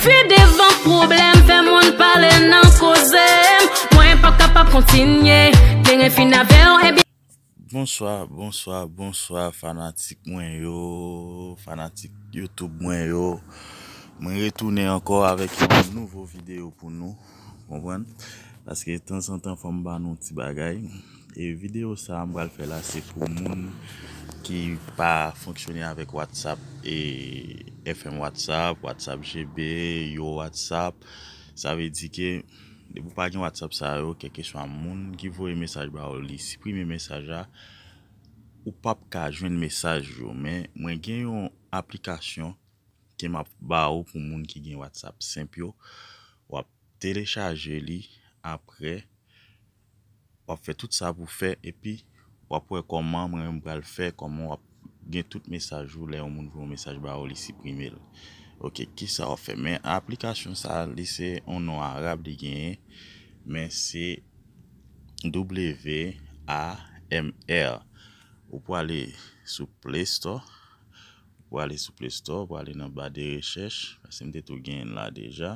Fi devan pwoblèm fè moun pale nan koze m Mwen pap kapab kontinye Kleren fin avè w ebyen. Bonswa bonswa bonswa fanatik mwen yo fanatik YouTube mwen yo mwen retounen ankò avèk yon nouvo video pou nou konprann paske tanzantan fòm ba nou ti bagay. E video sa m pral fè la se pou moun ki pa fonksyone avèk whatsapp e FM whatsapp, whatsapp GB, yo whatsapp sa vle di ke depi ou pa gen whatsapp sa yo kèlkeswa moun ki voye mesaj ba ou li siprime mesaj la ou pap ka jwenn mesaj yo men mwen gen yon aplikasyon ke map ba ou pou moun ki gen whatsapp senp yo wap telechaje li aprè wap fè tout sa pou fè epi wap wè kòman mwen menm pral fè kòman wap gen tout mesaj ou lè yon moun voye yon mesaj ba ou li siprimel ok kisa wap fè men aplikasyon sa li se yon non arab li genyen men se WAMR ou pwale sou play store ou pwale sou play store ou pwale nan ba de rechèch paske mte tou genyenl la deja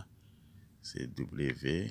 se W.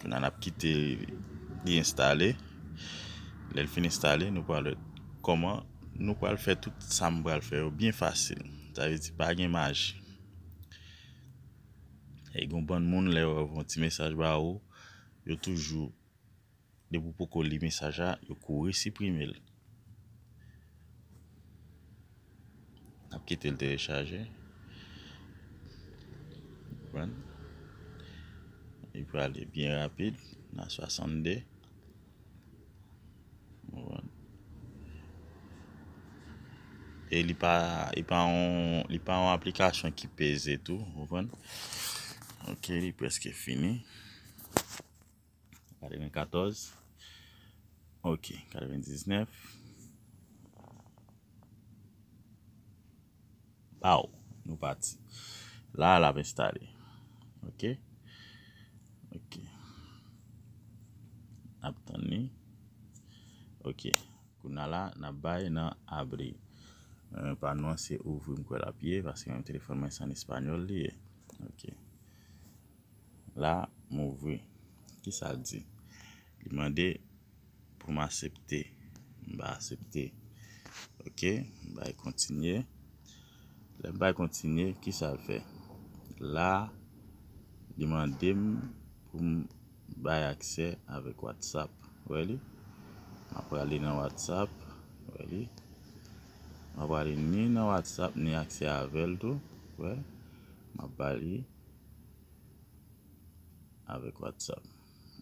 Kounye a n ap kite li enstale. Lè l fin enstale, nou pral wè kòman nou pral fè tout sa m pral fè yo byen fasil. Sa vle di pa gen maji. E gen yon bann moun lè yo voye yon ti mesaj ba ou, yo toujou. Depi w poko li mesaj la yo kouri siprime l. Nap kite l telechaje. Konprann? Li prale byen rapid nan 62. Konprann? E li pa li pa yon li pa yon aplikasyon ki peze tou. Konprann? Ok li preske fini. 94 ok 99 baw nou pati la lap enstale ok ok nap tann li ok kounya la nap bay nan abri pa nou an se ouvri m kwè lap ye paske menm telefòn mwen se an español li ye ok. La m ouvri. Ki sa l di? Li mande pou m asepte. M ba asepte. Ok, m bay kontinye. Lè m bay kontinye, ki sa l fè? La, li mande m pou m bay aksè avèk Whatsapp. Ou wè li? M a prale nan Whatsapp. Ou wè li? M a prale ni nan Whatsapp ni aksè avè l tou. Ou wè? M a ba li. avèk whatsapp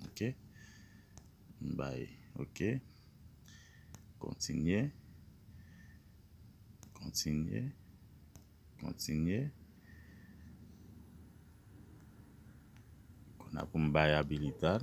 ok m bay ok kontinye kontinye kontinye konn a pou m bay abilitad.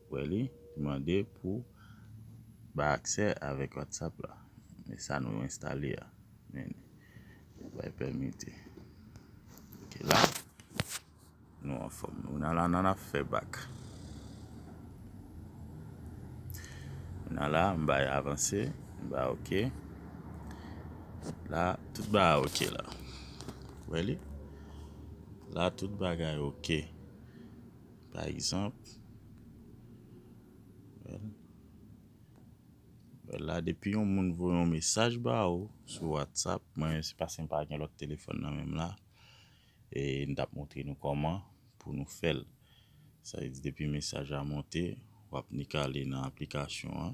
Wè li mande pou ba aksè avèk whatsapp la men sa nou enstale a men li bay pèmite ok la nou anfòm nou nan la nan ap fè bak nou nan la m bay avanse m ba ok la tout ba a ok la wè li la tout bagay ok. Pa egzanp, wè la depi yon moun voye yon mesaj ba ou sou whatsapp, mwen se paske m pa gen lòt telefòn nan menm la, e m tap montre nou kòman pou nou fè l. Sa vle di depi mesaj la monte, wap nik ale nan aplikasyon an.